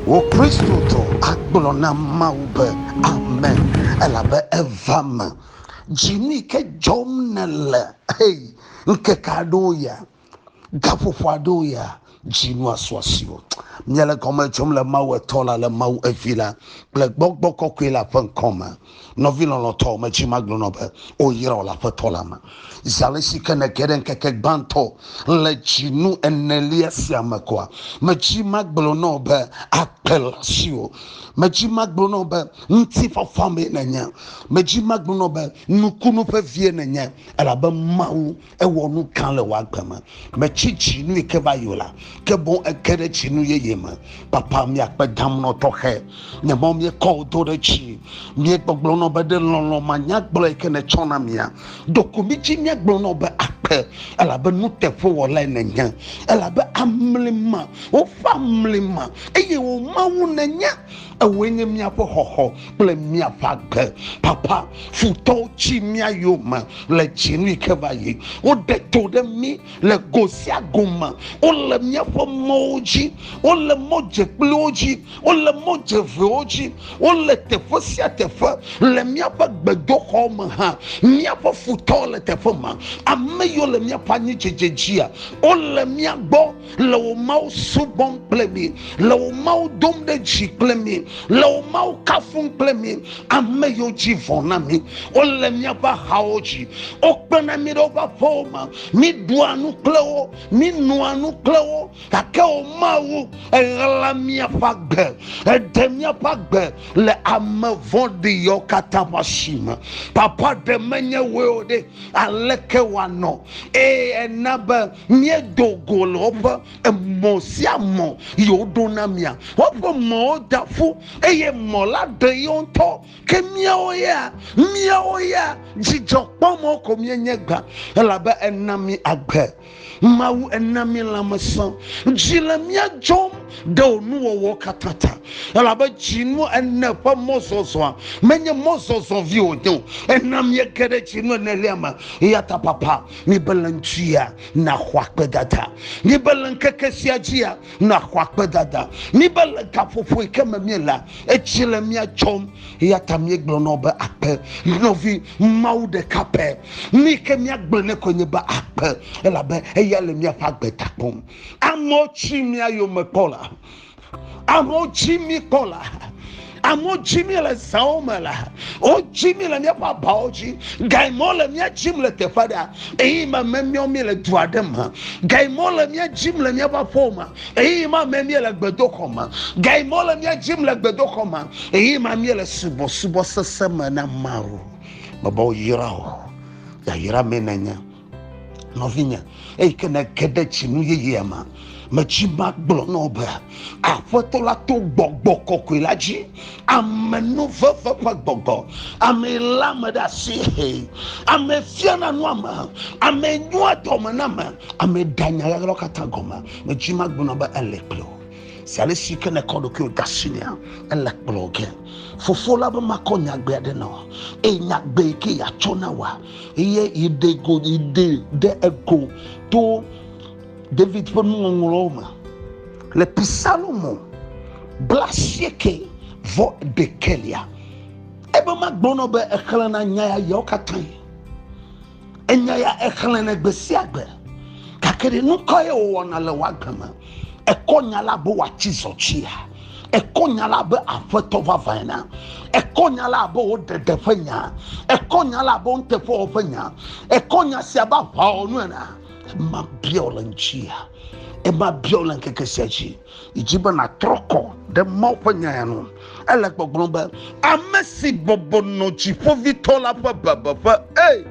Wò Kristotɔ agblɔ na Mawu be, Ame, elabe eva me. Jimmy, ke dzɔm nèle? Hey, ŋkeke aɖewo ya, gaƒoƒo aɖewo ya, dzinua su asiwò. Míele gɔme dzom le Mawu Etɔ la, le Mawu Evi la, kple Gbɔgbɔ Kɔkɔe la ƒe ŋkɔ me. Nɔvi lɔlɔ̃tɔ, medi magblɔ nɔ be, O yra wò le Aƒetɔ la me. Zi alesi ke nège ɖe ŋkeke gbãtɔ le dzinu enelia sia me koa, medi magblɔ nɔ wò be, Akpe le asiwò. Medi magblɔ nɔ wò be, Ŋutifafa mee nènye. Medi magblɔ nɔ wò be, Nukunu ƒe vie nènye, elabe Mawu ewɔ nu gã le wò agbe me. Mètsi tsi nu yi ke va yi o la, ke boŋ ège ɖe tsinu yeye me. Papa, míakpe damnɔ tɔxɛ nye mɔ míekɔ wò do ɖe dzi. Míegbɔgblɔ na wò be, Ɖe lɔlɔ̃ manyagblɔ yi ke nètsɔ na mía? Ɖo ko mídzi míagblɔ na wò be, Akpe, elabe nuteƒewɔlae nènye, elabe amlima, woƒe amlima, eye wò Mawu nènye. Ewòe nye míaƒe xɔxɔ kple míaƒe agbe. Papa, futɔwo tsi mía yome le dzinui ke va yi. Woɖe to ɖe mí le go sia go me. Wole míaƒe mɔwo dzi. Wole mɔdzekpuiwo dzi. Wole mɔdzevewo dzi. Wole teƒe sia teƒe. Le míaƒe gbedoxɔ me hã, míaƒe futɔwo le teƒe ma. Ame yiwo le míaƒe anyidzedze dzia, wole mía gbɔ. le wò mawu subɔm kple mi le wò mawu dom ɖe dzi kple mi le wò mawu kafum kple mi ame yiwo dzi vɔ na mi wole míaƒe ahawo dzi wokpena mi ɖe woƒe aƒewo me míɖua nu kple wo mínoa nu kple wo gake wò mawu eɣla míaƒe agbe eɖe míaƒe agbe le ame vɔɖi yawo katã ƒe asi me papa ɖe menye woe o ɖe aleke wòanɔ eye ena be Míedo go le woƒe emɔ sia mɔ yi woɖo na mía. Woƒe mɔwo da ƒu eye mɔ la ɖe yewo ŋutɔ. Ke míawo ya, míawo ya dzidzɔ kpɔmɔ ko míenye gbã elabe ena mí agbe. Mawu ena mí lãmesẽ. Dzi le mía dzɔm ɖe wò nuwɔwɔwo katã ta elabe dzinu ene ƒe mɔzɔzɔa menye mɔzɔzɔ vi wònye o. Ena míege ɖe dzinu enelia me. Eyata papa Míebe le ŋutia nàxɔ akpedada. Míebe le ŋkeke sia dzia nàxɔ akpedada. Míebe le gaƒoƒo yi ke me míela edzi le mía tsɔm. Eya ta míegblɔ na wo be akpe. Nɔvi, Mawu ɖeka pɛ. Nu yi ke míagblɔ nɛ koe nye be akpe, elabe eya le míaƒe agbe ta kpɔm. Amewo tsi mía yome kpɔ la, Amewo dzi mi kpɔ la. Amewo dzi mi le zawo me la. Wodzi mi le míaƒe abawo dzi. Gaimɔ le mía dzim le teƒe aɖe. Eye ma memiɔ mi le du aɖe me. Gaimɔ le mía dzim le míaƒe aƒewo me. Eye ma memie le gbedoxɔ me. Gaimɔ le mía dzim le gbedoxɔ me. Eye ma mie le subɔsubɔsese me na Mawu. Mebɔ yra o. Yayra me nenye. nɔvinye eyi ke nege ɖe tsinu yeyea me metsi magblɔ na wò be aƒetɔ la to gbɔgbɔ kɔkɔe la dzi amenuveve ƒe gbɔgbɔ ame lé ame ɖe asi he ame fiana nu ame ame nyoa dɔme na ame ame ɖanya ɣaɣlawo katã gɔme metsi magblɔ na be ele kple wò si ale si ke nekɔ ɖokuiwò de asi nea ele kplɔ ge fofo la be makɔ nyagbe aɖe na wò eye nyagbe yi ke yeatsɔ na wòa eye yiɖe go yiɖe ɖe ego to david ƒe nuŋɔŋlɔwo me le pisalomo blasieke vɔ ɖekelia ebe magblɔnɔ be exlẽna nya ya yawo katã enya ya exlẽnɛ gbe sia gbe gake ɖe nukɔ ye wòwɔna le wòagbe me Ekɔ nya la be wòatsi zɔtsia. Ekɔ nya la be aƒetɔ vavãe na. Ekɔ nya la be wò ɖeɖe ƒe nya. Ekɔ nya la be nuteƒewɔ ƒe nya. Ekɔ nya sia be aʋawɔnu ena. Ema bia wò le ŋutia. Ema bia wò le ŋkeke sia dzi. Yi dzi be nàtrɔ kɔ ɖe Mawu ƒe nya ya nu. Ele gbɔgblɔm be, Ame si bɔbɔ nɔ Dziƒovitɔ la ƒe bebeƒe, ee,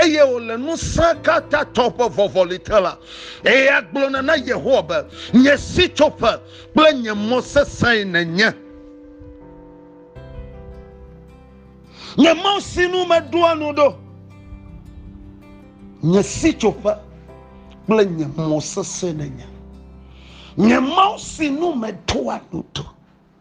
eye wòle ŋusẽkatãtɔ ƒe vɔvɔli te la, eya gblɔna na Yehowa be, Nye sitsoƒe kple nye mɔ sesẽe nènye. Nye mɔ si nu meɖoa nu ɖo. Nye sitsoƒe kple nye mɔ sesẽe nènye. Nye mɔ si nu meɖoa nu ɖo.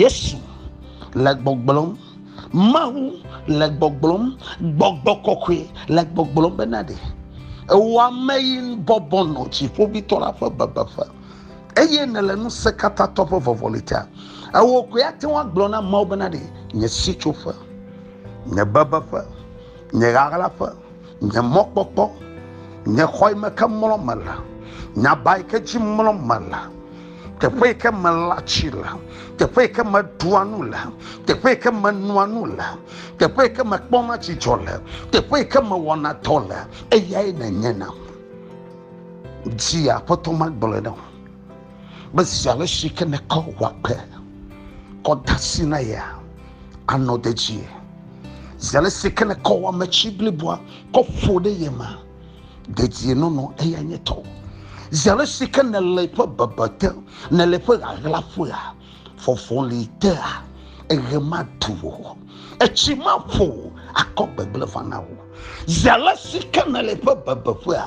Yesu le gbɔgblɔm, Mawu le gbɔgblɔm, gbɔgbɔ kɔkɔe le gbɔgblɔm bena ɖe ewɔ ame yi bɔbɔ nɔ dziƒoʋĩtɔ la ƒe bebeƒe eye nèle Ŋusẽkatãtɔ ƒe vɔvɔli ta. Ewɔ koe ate ŋu agblɔ na ameawo bena ɖe nye sitsoƒe, nye bebeƒe, nye ɣaɣlaƒe, nye mɔkpɔkpɔ, nye xɔ yi me ke mlɔm mele, nye aba yi ke dzi mlɔm mele, teƒe yi ke melã tsi le, teƒe yi ke meɖua nu le, teƒe yi ke menoa nu le, teƒe yi ke mekpɔna dzidzɔ le, teƒe yi ke mewɔna dɔ le, eyae nènye nam. Zi Aƒetɔ magblɔe na wò be zi ale si ke nèkɔ wò agbe kɔ de asi na yea, anɔ dedie. Zi ale si ke nèkɔ wò ametsi bliboa kɔ ƒo ɖe ye me. dedienɔnɔ eya nye tɔ zi ale si ke nèle ƒe bebe te nèle ƒe ɣaɣlaƒea fɔfɔli tea eɣe matu o etsi maƒo akɔ gbegblẽ vana o zi ale si ke nèle ƒe bebeƒea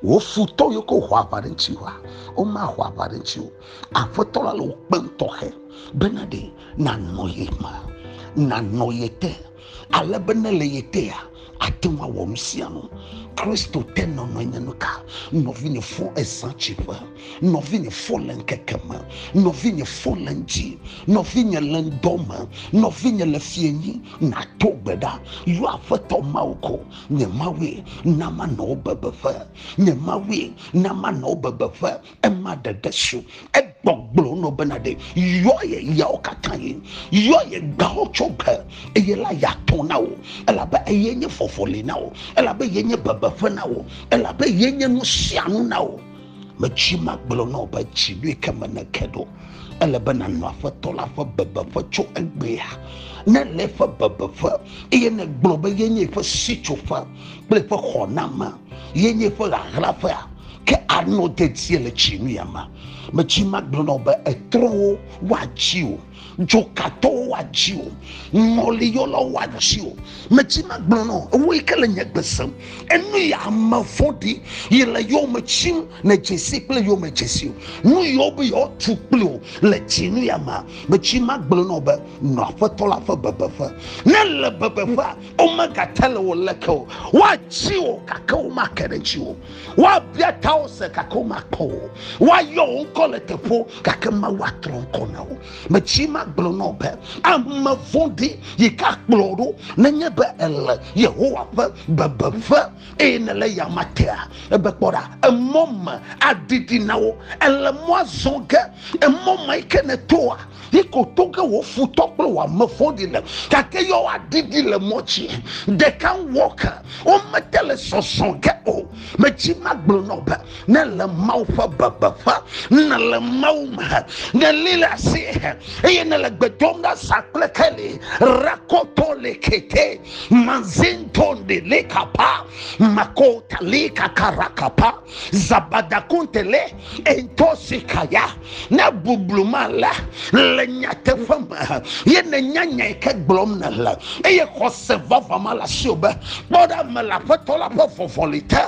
wò futɔ yiwo ke wòxɔ aʋa ɖe ŋuti wa womaxɔ aʋa ɖe ŋuti o aƒetɔ la le wò kpem tɔxɛ bena ɖe nanɔ ye me nanɔ ye te ale be ne le ye tea ate ŋu awɔ nu sia nu kristo te nɔnɔe nye nu ka nɔvinye fɔ ezã tsiƒe nɔvinye fɔ le ŋkeke me nɔvinye fɔ le ŋdzi nɔvinye le ŋdɔ me nɔvinye le fienyi nato gbe ɖa yɔ aƒetɔ mawu ko nye mawue na manɔ wo bebeƒe nye mawue na manɔ wo bebeƒe ema ɖeɖe su egbɔgblɔ nɔ bena ɖe yɔ ye yawo katã yi yɔ ye gbawo tso gbe eye la yatɔ na wo elabe eye nye fɔfɔli na wo elabe ye nye bebeƒe na wo elabe ye nye nu sia nu na wo metsi magblɔ na wo be tsi ɖoe ke me neke ɖo ele be nanɔ aƒetɔ la ƒe bebeƒe tso egbea ne le eƒe bebeƒe eye negblɔ be ye nye eƒe sitsoƒe kple eƒe xɔname ye nye ƒe ɣaɣlaƒea ke anɔ dedie le tsi nu ya ma metsi ma gblɔnɔ be etrɔwo woatsi o dzokatɔwo woatsi o ŋɔliyɔlawo woatsi o metsi ma gblɔnɔ ewoe ke le nye gbesem enu ya ame vɔɖi yi le yɔme tsim ne dzesi kple yɔme dzesi o nu yɔ be yɔtu kple o le tsi nu ya ma metsi ma gblɔnɔ be nɔ aƒetɔ la ƒe bebeƒe ne le bebeƒea womegate le wò leke o woatsi wò gake womake ɖe ŋuti o woabia ta wo se gake womakpɔ o woayɔ wo ŋkɔ le teƒo gake mawu atrɔ ŋkɔ na wo metsi magblɔ na wo be ame vɔ̃ɖi yi ke akplɔ ɖo nenye be ele yehowa ƒe bebeƒe eye nele yama tea ebe kpɔ ɖa emɔ me adidi na wo ele mɔa zɔ ge emɔ me yi ke netoa Yi ko toge wò futɔ kple wò ame vɔ̃ɖi le, gake yɔ woaɖiɖi le mɔ dzi. Ɖeka ŋwɔ ke, womete le sɔsɔ ge o. Medzi magblɔ nɔ be, ne le Mawu ƒe bebeƒe, ne le Mawu me, ne li le asi, eye ne le gbe dom ɖa sa kple keli, rakoto le kete, mazinto de le kapa, makota le kakara kapa, zabadakunte le entosikaya ne bublu ma la le nyateƒe me ye ne nyanyae ke gblɔm ne le eye xɔse vava ma la si o be kpɔ ɖa me le aƒetɔ la ƒe vɔvɔli te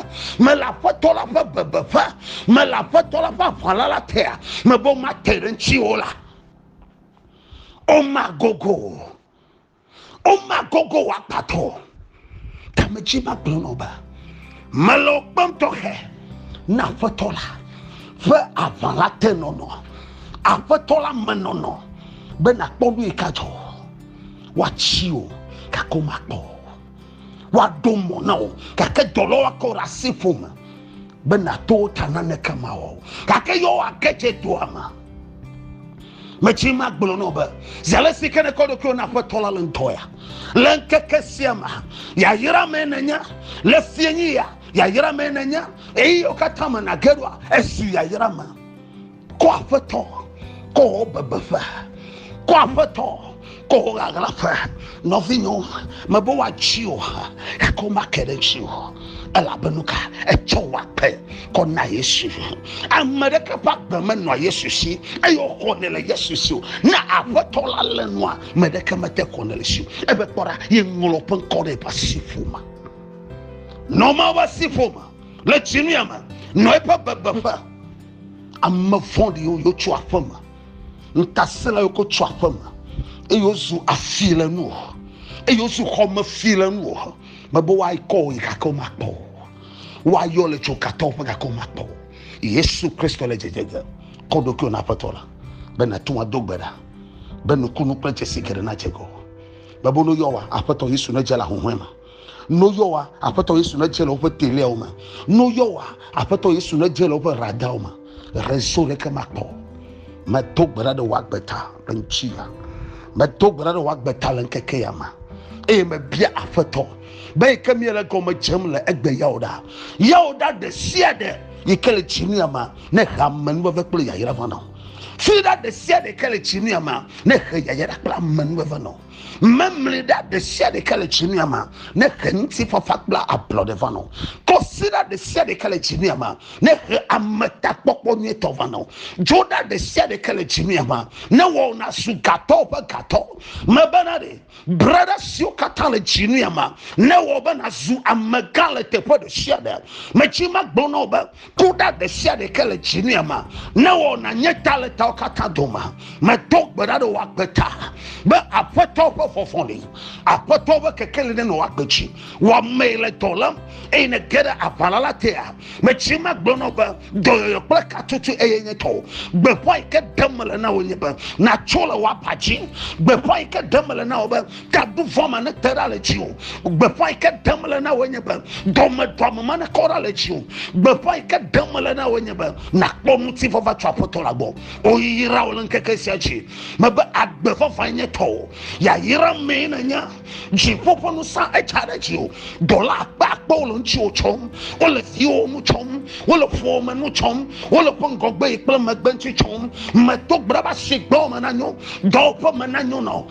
me le aƒetɔ la ƒe bebeƒe me le aƒetɔ la ƒe aʋala la tea me be mate ɖe ŋuti o la o ma gogo Oma gogo wa kpatɔ. Kame tsi ma kplɔ nɔ ba. Mele o kpɔm tɔxɛ. Na aƒetɔ la. Ƒe aʋa la te nɔnɔ. Aƒetɔ la me nɔnɔ. Be na kpɔ nu yi ka dzɔ. Wa tsi o. Kako ma kpɔ. woaɖo mɔ na wò gake dɔlɔ woakɔ ɖe asi ƒo me be nàto wo ta naneke mawɔ o gake yɔ woage dze doa me metsi ma gblɔ nɔ be zi ale si ke nekɔ ɖokuiwo na aƒetɔ la le ŋutɔ ya le ŋkeke sia me yayra me nenya le fienyi ya yayra me nenya eye wo katã me nage ɖoa esu yayra me Kɔ aƒetɔ, kɔ wò bebeƒe, kɔ aƒetɔ, kɔ wò ɣaɣlaƒe. Nɔvinyo, mebe woatsi o, gake womake ɖe ŋuti o. Elabe nu ka? Etsɔ wò akpe kɔ na Yesu. Ame ɖeke ƒe agbe menɔa Yesu si eye wòxɔnɛ le Yesu si o. Ne aƒetɔ la lé nua, me ɖeke mete xɔnɛ le si o. Ebe kpɔ ɖa, yeŋlɔ ƒe ŋkɔ ɖe eƒe asiƒome. Nɔ Mawu ƒe asiƒome le tsi nu ya me, nɔ eƒe bebeƒe. Ame vɔ̃ɖiwo yo tso aƒe me, ŋutasẽla yo ko tso aƒe me, eye wozu afi le nuwò, eye wozu xɔme fi le nuwò. Mebe woakɔ wò yi gake womakpɔ wò o. Woayɔ le tso katɔ ƒe gake womakpɔ wò o. Yesu Kristo le dzedze ge. Kɔ ɖokuiwò na Aƒetɔ la be nàto ado gbe ɖa be nukunu kple dzesi geɖe nadze ŋgɔwò. Mebe woyɔ wòa, Aƒetɔ Yesu nedze le ahuhɔ̃e me. No yɔwa aƒetɔ Yesu ne dze le woƒe teliawo me. No yɔwa aƒetɔ Yesu ne dze le woƒe radawo me. Rezo ɖeke makpɔ. Meto gbe ɖa ɖe wò agbe ta le ŋuti ya. Meto gbe ɖa ɖe wò agbe ta le ŋkeke ya me. Eye mebia aƒetɔ be yi ke mie le gɔme dzem le egbe yawo ɖa. Yawo ɖa ɖe sia ɖe yi ke le tsi mia ma ne he ame nuveve kple yayra va nɔ. Fi ɖa ɖe sia ɖe yi ke le tsi mia ma ne he yayra kple ame nuveve nɔ. Memli ɖa ɖe sia ɖe ke le tsinuya me ne he ŋutifafa kple ablɔɖe va nɔ. Kɔsiɖa ɖe sia ɖe ke le tsinuya me ne he ametakpɔkpɔ nyuitɔ va nɔ. Dzoɖa ɖe sia ɖe ke le tsinuya me ne wɔ wò nazu gatɔwo ƒe gatɔ. Mebena ɖe, breɖa siwo katã le tsinuya me ne wɔ wò be nazu amegã le teƒe ɖe sia ɖe. Metsi magblɔ na wò be, Kuɖa ɖe sia ɖe ke le dzinia ma, ne wɔna nye ta le tawo katã dome. Medo gbe ɖa ɖe wò agbe ta be aƒetɔ ƒe vɔvɔli, aƒetɔ ƒe kekeli ne nɔ agbe dzi. Wɔmee le dɔ lém eye ne ge ɖe aʋala la tea. Metsi me gblɔ nɔ be dɔyɔyɔ kple katutu eye nye tɔwo. Gbeƒã yi ke ɖem mele na wò nye be natso le wò aba dzi. Gbeƒã yi ke ɖem mele na wò be Tabu vɔ ma ne te ɖa le dzi o. Gbeƒã yi ke ɖem le na wò nye be dɔmedɔame ma ne kɔ ɖa le dzi o. Gbeƒã yi ke ɖem le na wò nye be nakpɔ ŋuti vava tso aƒetɔ la gbɔ. O yra wò le ŋkeke sia dzi. Mebe agbe vava nye tɔwò. Ya yra mee ne nye. Dziƒo ƒe nusa edza ɖe dzi o. Dɔla akpe akpe wole ŋuti wò tsɔm. Wole viwo nu tsɔm. Wole ƒuwo me nu tsɔm. Wole ƒe ŋgɔgbe yi kple megbe ŋuti tsɔm. Medo gbe ɖa be asi gbɔ me na nyo. Dɔwɔƒe me na nyo nɔ.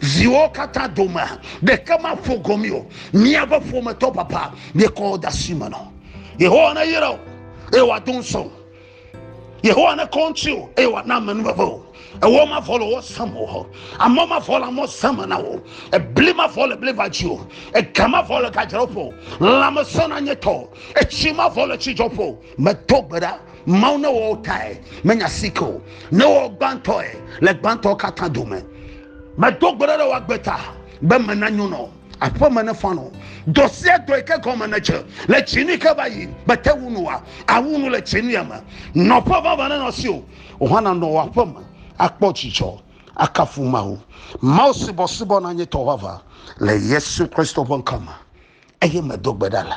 Viwo katã domea, ɖeke maƒo gomee o. Míaƒe ƒometɔ papa míekɔ wo de asi me nɔ. Yehowa neyra wò eye wòado ŋusẽ wò. Yehowa nekɔ ŋuti wò eye wòana amenuveve wò. Ewɔ mavɔ le wò sem o. Amɔ mavɔ le amɔ sem na wò. Ebli mavɔ le bli va dzi o. Ega mavɔ le gadzraƒe o. Lãmesẽ nanye tɔ. Etsi mavɔ le tsidzɔƒe o. medo gbe ɖa mawu ne wɔwo tae menya sike o ne wɔ gbãtɔe le gbãtɔ katã dome medo gbe ɖa ɖe woagbe ta be mena nyonɔ aƒeme ne fanɔ dɔ sia dɔ yi ke gɔme ne dze le tsinu yi ke va yi bete wu nu wa awu nu le tsinu ya me nɔƒe vava ne nɔ si o ohã nanɔ wɔ aƒeme akpɔ dzidzɔ akafu mawu mawu subɔsubɔ na nye tɔ vava le yesu kristo ƒe ŋkɔ me eye medo gbe ɖa la